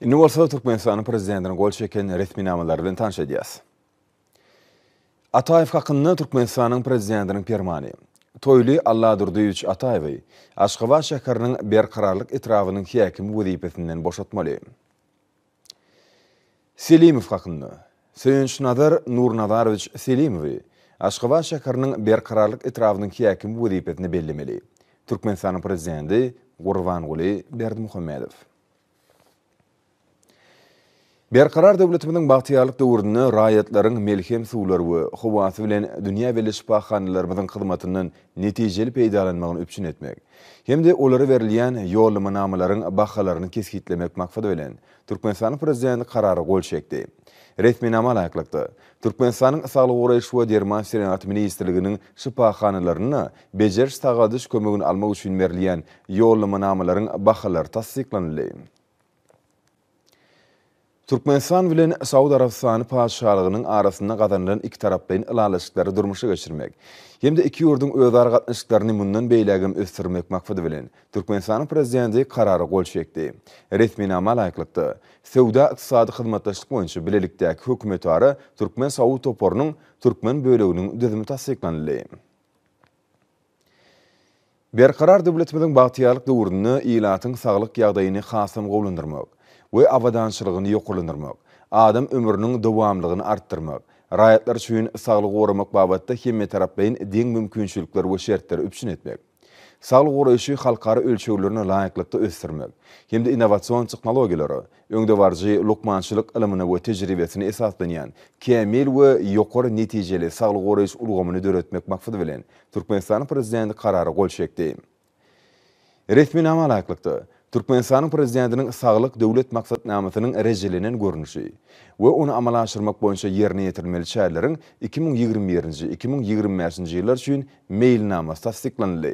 Indi bolsa Türkmenistanyň prezidentiniň gol çeken resminamalary bilen tanyş edýäs. Ataýew hakynda Türkmenistanyň prezidentiniň permany. Toýly Alladurdyýewiç Ataýewi Aşgabat şäheriniň Berkararlyk etrabynyň häkimi wezipesinden boşatmaly. Selimow hakynda. Söýünçnazar Nurnazarowiç Selimowy Aşgabat şäheriniň Berkararlyk etrabynyň häkimi wezipesine bellemeli. Türkmenistanyň prezidenti Gurbanguly Berdimuhamedow. Berkarar döwletimiziň bagtyýarlyk döwründe raýatlaryň melhem suwlary we howasy bilen dünýä belli şypahanalarymyzyň hyzmatyndan netijeli peýdalanmagyny üpjün etmek hem-de olara berilýän ýollamanamalaryň bahalaryny kesgitlemek maksady bilen, Türkmenistanyň Prezidenti Karara gol çekdi. Resminama laýyklykda, Türkmenistanyň Saglygy goraýyş we derman senagaty ministrliginiň şypahanalarynda bejeriş-sagaldyş kömegini almak üçin berilýän ýollamanamalaryň bahalary tassyklanyldy. Türkmenistan bilen Saud Arabystany Patyşalygynyň arasynda gazanylan ikitaraplaýyn ylalaşyklary durmuşa geçirmek hem-de iki ýurduň özara gatnaşyklaryny mundan beýlägem ösdürmek maksady bilen, Türkmenistanyň Prezidenti Karara gol çekdi. Resminama laýyklykda, Söwda-ykdysady hyzmatdaşlyk boýunça bilelikdäki hökümetara türkmen-saud toparynyň türkmen böleginiň düzümi tassyklanyldy. Berkarar döwletimiziň bagtyýarlyk döwründe ilatyň saglyk ýagdaýyny hasam gowulandyrmak we abadançylygyny ýokarlandyrmak, adam ömrüniň dowamlygyny artdyrmak, raýatlar üçin saglygy goramak babatda hemmetaraplaýyn deň mümkinçilikler we şertleri üpjün etmek, saglyk goraýşy halkara ölçeglerine laýyklykda ösdürmek hem-de innowasion tehnologiýalara, öňdebaryjy lukmançylyk ylymyna we tejribesine esaslanýan kämil we ýokary netijeli saglyk goraýyş ulgamyny döretmek maksady bilen, Türkmenistanyň Prezidenti Karara gol çekdi. Resminama laýyklykda, Türkmenistanyň Prezidentiniň Saglyk Döwlet maksatnamasynyň rejelenen görnüşi we ony amala aşyrmak boýunça ýerine ýetirilmeli çäreleriň iki müň ýigrimi birinji, iki müň ýigrimi bäşinji ýyllar üçin Meýilnamasy tassyklanyldy.